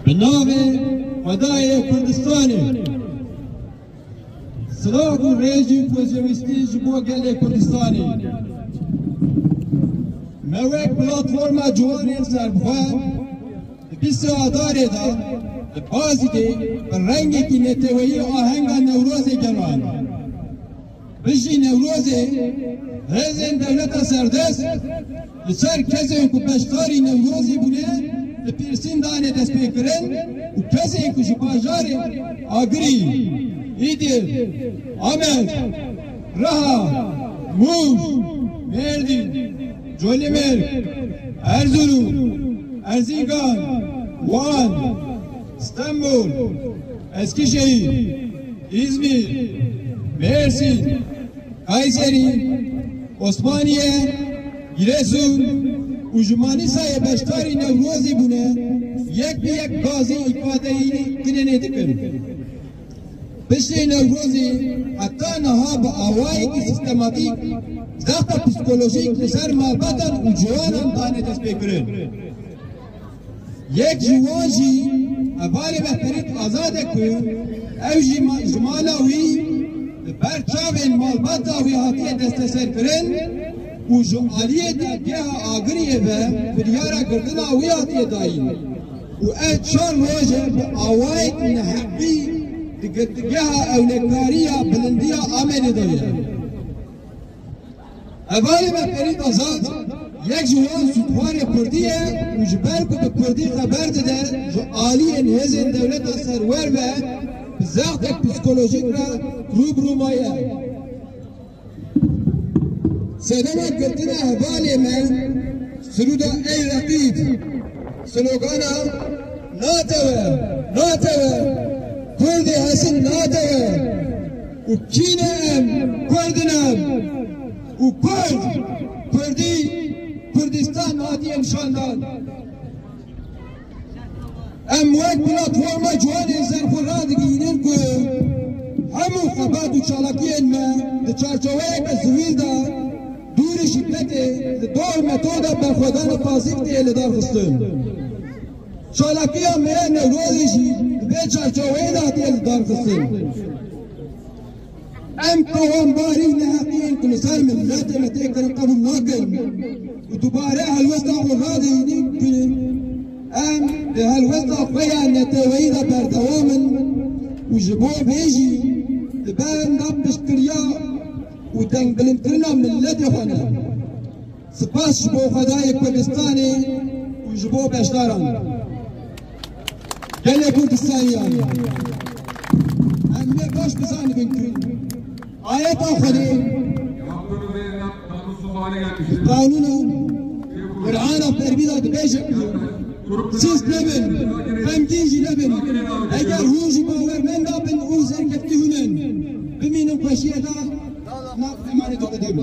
Bi navê Xwedayê Kurdistanê Silav û rêzî û xwezewîstî ji bo gelê Kurdistanê. Me wek platforma ciwanên serbixwe di pîsê adarê de li Bazidê bi rengekî neteweyî ahenga Newrozê geran. Bijî Newrozê, hêzên dewleta serdest li ser kesên ku beşdarî Newrozî bûne li pêrsîn dane destpêkirin û kesên ku ji bajarê Agirî, Îdir, Amed, Riha, Mûş, Mêrdîn, Colemêrg, Erzûrûm, Erzîngan, Wan, Stenbol, Eskişehîr, Îzmîr, Mêrsîn, Kayserî, Osmaniye, Giresun û ji Manîsayê beşdarî Newrozê bûne yek bi yek gazê îfadeyî tinenê dikin. Piştê Newrozê heta niha bi awayekî sîstematîk zexta psîkolojîk li ser malbatan û ciwanan dane destpêkirin. Yek ji wan jî hevalê me Ferit Azad e ku ew jî ji mala wî li ber çavên malbata wî hatiye desteserkirin û ji aliyê dadgeha Agiriyê ve biryara girtina wî hatiye dayîn û ev çar roj e bi awayekî neheqî di girtîgeha ewlekariya Bilindiya Amedê de ye. Hevalê me Ferît Azad yek ji wan sûtwarê Kurdî ye û ji ber ku bi Kurdî xeber dide ji aliyên hêzên dewleta serwer ve bi zextek psîkolojîk re rû bi rû maye. Sedema girtina hevalê me siruda Ey Reqîb, slogana Natewe, natewe, Kurdê hesn natewe. û kîne em Kurd in em û Kurd, Kurdî, Kurdistan hatiye nîşandan. Em wek platforma ciwanên zerxwe radigihînin ku hemû xebat û çalakiyên me di çarçeweyeke zivîl de dûrî şîkletê li dor metoda berxwedana pasîv tê lidarxistin. Çalakiya me ya Newrozê jî di vê çarçoweyê de hatiye lidarxistin. Em tawanbarî û neheqiyên ku li ser miletê me tê kirin qebûl nakin û dubare helwesta xwe radehînin. Em di helwesta xwe ya neteweyî de berdewam in û ji bo vê jî li ber nav piştgiriya û dengbilindkirina miletê xwe ne. Spas ji bo Xwedayê Kurdistanê û ji bo beşdaran. Gelê Kurdistaniyan, em ne baş bizanibin ku ayeta Xwedê, qanûna, Qur'ana fermî da dibêje ku siz nebin, xemgîn jî nebin. Eger hûn jî bawermend dabin û zerkeftî hûn in, bimînin xweşiyê da nav emaneto Xwedê bû.